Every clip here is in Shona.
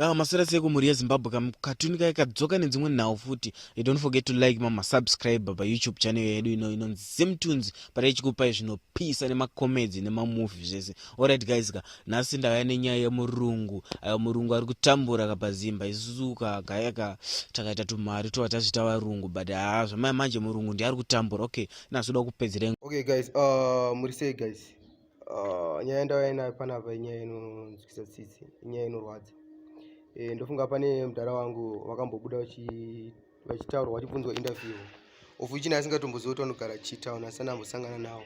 Ah, maswera sei kumhuri yezimbabwe kam katuni kaye kadzoka nedzimwe nhau futi you don't forget to like mama subscribe payoutube channel yedu ino inonzi zimtunes pata ichikupai zvinopisa nemacomedy nemamovie zvese allright guys ka nhasi ndauya nenyaya yemurungu ayo murungu ari kutambura ka pazimba isusu ka gaya ka takaita tumari tova tazvita varungu but haa ah, zvamaya manje murungu ndiari kutambura okay nazoda kupedzereng okay guys uh, muri sei guys Uh, nyaya ndauya nayo panapa inyaya inonzwisa tsitsi inyaya inorwadza e, ndofunga pane mudhara wangu vakambobuda vachitaurwa vachibvunzwa interview of which naye asingatombozivi kuti vanogara chitown asani ambosangana nawo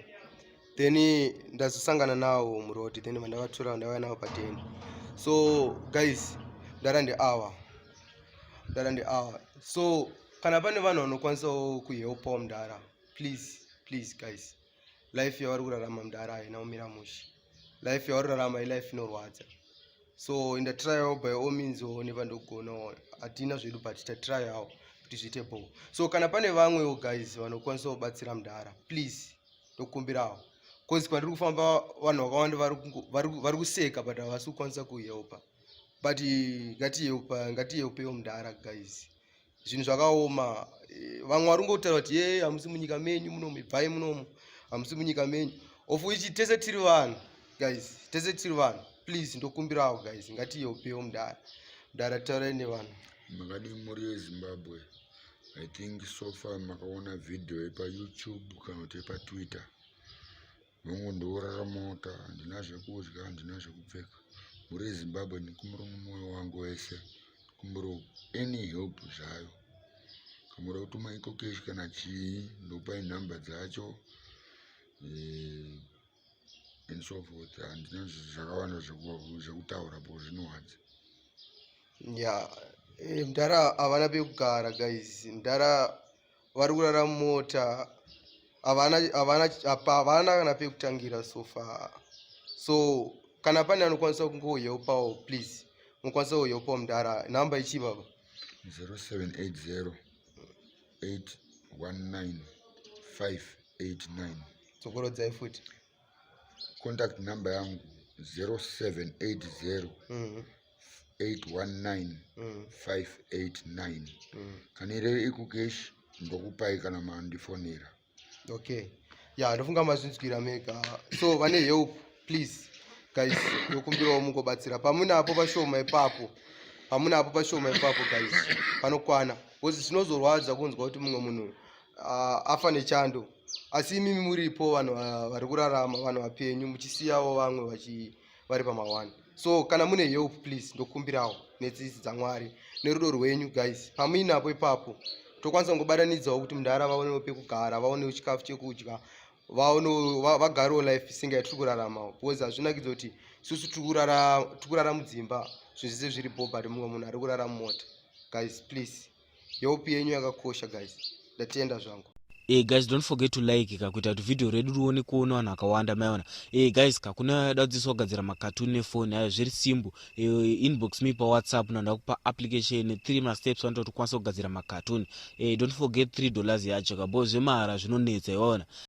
then ndazosangana nawo muroad then vandavatora vandavaya navo pateni so guys mudhara ndeawa mudhara ndeawa so kana pane vanhu vanokwanisawo kuhelpawo mudhara please please guys life yavari kurarama mdara haina kumira mushe life yavari kurarama ilife inorwadza so in the trial by all means one vandogona hatina zvedu but ta trial awo kuti zviite bo so kana pane vamwewo guys vanokwanisa kubatsira mdara please ndokumbirawo bcause kwandiri kufamba vanhu vakawanda vari kuseka but havasi kukwanisa kuhelpa but ngatiyeupa ngatiyeupewo mdara guys zvinhu zvakaoma eh, vamwe vari kungotaura kuti yee hamusi munyika menyu munomu ibvai munomu hamusi munyika menyu of which tese tiri vanhu guys tese tiri vanhu please ndokumbirawo guys ngatiyopewo mudara mudara taurai nevanhu makadii mhuri yezimbabwe i think so far makaona video yepayoutube kana kuti yepatwitter Hongu ndoorara mota handina zvekudya handina zvekupfeka mhuri yezimbabwe ndikumbiro mumwoyo wangu wese ndikumbiro any help zvayo kamuda kutuma iko kesh kana chii ndopai nhamba dzacho eh, and so forth handina zvakawanda zvekutaura po zvinowadza ya eh, mdara havana pekugara guys mdara vari kurara mumota havana havana apa havana kana pekutangira so far so kana pane anokwanisa kungohelpawo please mukwanisa kuhelpawo mudhara nhamba ichii baba 0780 819 589 dzokorodzai futi contact number yangu 0780 mm -hmm. 819 mm. 589 mm. kana ireve ikukeshi ndokupai kana mandifonera okay ya ndofunga mazvinzwira mega so vane help please guys ndokumbirawo mungobatsira pamune apo pashoma ipapo pamune apo pashoma ipapo guys panokwana bcause zvinozorwadza kunzwa kuti mumwe munhu uh, afa nechando asi imimi muripo vanhu vari kurarama vanhu vapenyu muchisiyawo vamwe vachi vari pama one so kana mune help please ndokumbirawo netsitsi dzamwari nerudo rwenyu guys pamuinapo ipapo tokwanisa kungobatanidzawo kuti mundara vaonewo pekugara vaonewo chikafu chekudya vagarewo life singa yatiri kurarama because hazvinakidza kuti susu tiri kurara mudzimba zvinhu zvese zviri bho but mumwe munhu ari kurara mumota guys please yeupi yenyu yakakosha guys ndatenda zvangu Hey eh, guys don't forget to like ka kuita kuti video redu rione kuona vanhu vakawanda maiona hey eh, guys ka kuna dadziso kugadzira makatuni nefoni ayo zviri simbu hey, eh, inbox me pa whatsapp na ndakupa application three masteps anoita kuti ukwanise kugadzira makatuni hey, don't forget three dollars yacho ka bo zvemahara zvinonetsa iwaona